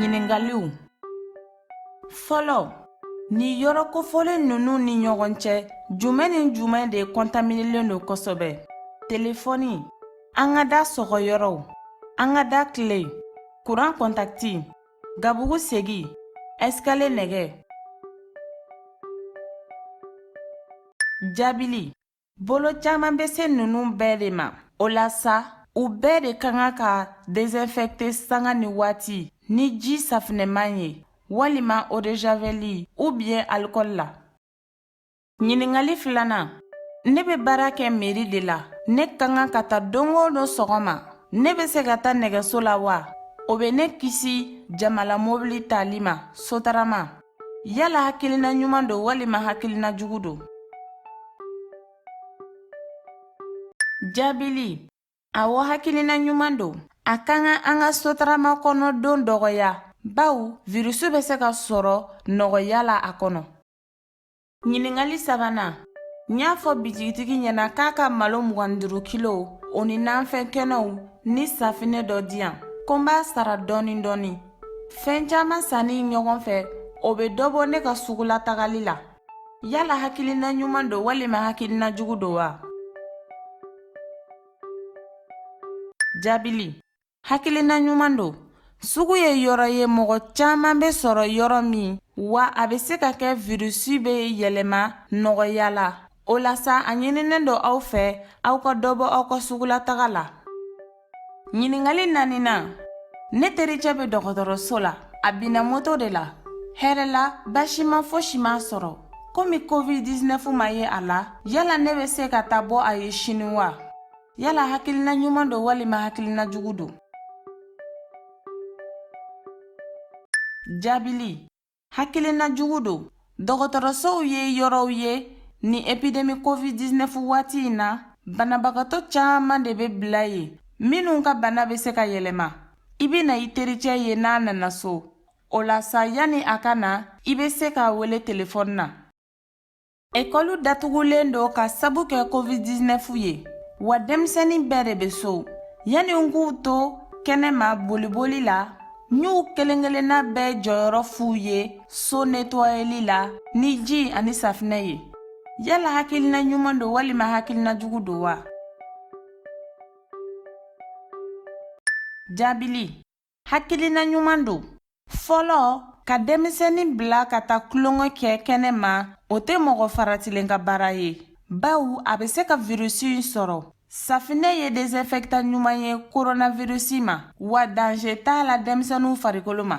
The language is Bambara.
ɲininkaliw fɔlɔ ni yɔrɔ kofɔlen ninnu ni ɲɔgɔn cɛ jumɛn ni jumɛn de kɔntaminelen don kosɛbɛ telefɔni an ka da sɔgɔ yɔrɔw an ka da kile kuran kɔntakiti gabugu segi ɛsikale nɛgɛ jaabili Bolo caman bɛ se ninnu bɛɛ de ma o la sa u bɛɛ de ka kan ka desinfecter sanga ni waati ni ji safinɛman ye walima eau de javel ou bien alcool la. Ɲininkali filanan ne bɛ baara kɛ meri de la ne ka kan ka taa don o don sɔgɔma ne bɛ se ka taa nɛgɛso la wa o bɛ ne kisi jamala mobili tali ma sotarama. Yala hakilina ɲuman don walima hakilina jugu don jaabili awɔ hakilina ɲuman don a ka kan an ka sotarama kɔnɔ don dɔgɔya bawo virisi bɛ se ka sɔrɔ nɔgɔya la a kɔnɔ Ɲininkali sabanan n y'a fɔ bitigitigi ɲɛna k'a ka malo mugan duuru kilo o ni nanfɛn kɛnɛw ni safinɛ dɔ di yan ko n b'a sara dɔɔni dɔɔni fɛn caman sanni ɲɔgɔn fɛ o bɛ dɔ bɔ ne ka sugulatagali la yala hakilina ɲuman don walima hakilina jugu don wa jaabili hakilina ɲuman don sugu ye yɔrɔ ye mɔgɔ caman bɛ sɔrɔ yɔrɔ min wa a bɛ se ka kɛ virisi bɛ yɛlɛma nɔgɔya la o la sa a ɲininen don aw fɛ aw ka dɔ bɔ aw ka sugulataga la ɲininkali naaninan ne tericɛ bɛ dɔgɔtɔrɔso la a binna moto de la hɛrɛ la basima fosi m'a sɔrɔ komi covid-19 ma ye a la yala ne bɛ se ka taa bɔ a ye sini wa Yala hakilina ɲuman don walima hakilina jugu don? Jaabili, hakilina jugu don. Dɔgɔtɔrɔsow ye yɔrɔw ye ni epidemi COVID-19 waati in na, banabagatɔ caman de bɛ bila yen, minnu ka bana bɛ se ka yɛlɛma. I bɛna i tericɛ ye n'a nana so. O la sa, yanni a ka na, i bɛ se k'a wele telefɔni na. Ekɔlu datugulen don ka sabu kɛ covid-19 ye wa denmisɛnnin bɛɛ de bɛ so yanni n k'u to kɛnɛma boliboli la n y'u kelen-kelenna bɛɛ jɔyɔrɔ f'u ye so netɔyeli la ni ji ani safinɛ ye yala hakilina ɲuman don walima hakilina jugu don wa jaabili Hakilina ɲuman don. Fɔlɔ, ka denmisɛnnin bila ka taa tulonkɛ kɛ kɛnɛ ma, o tɛ mɔgɔ faratilen ka baara ye. Bawo a bɛ se ka virisi in sɔrɔ. Safinɛ ye desinfɛktan ɲuman ye koronavirisi ma, wa danze t'a la denmisɛnninw farikolo ma.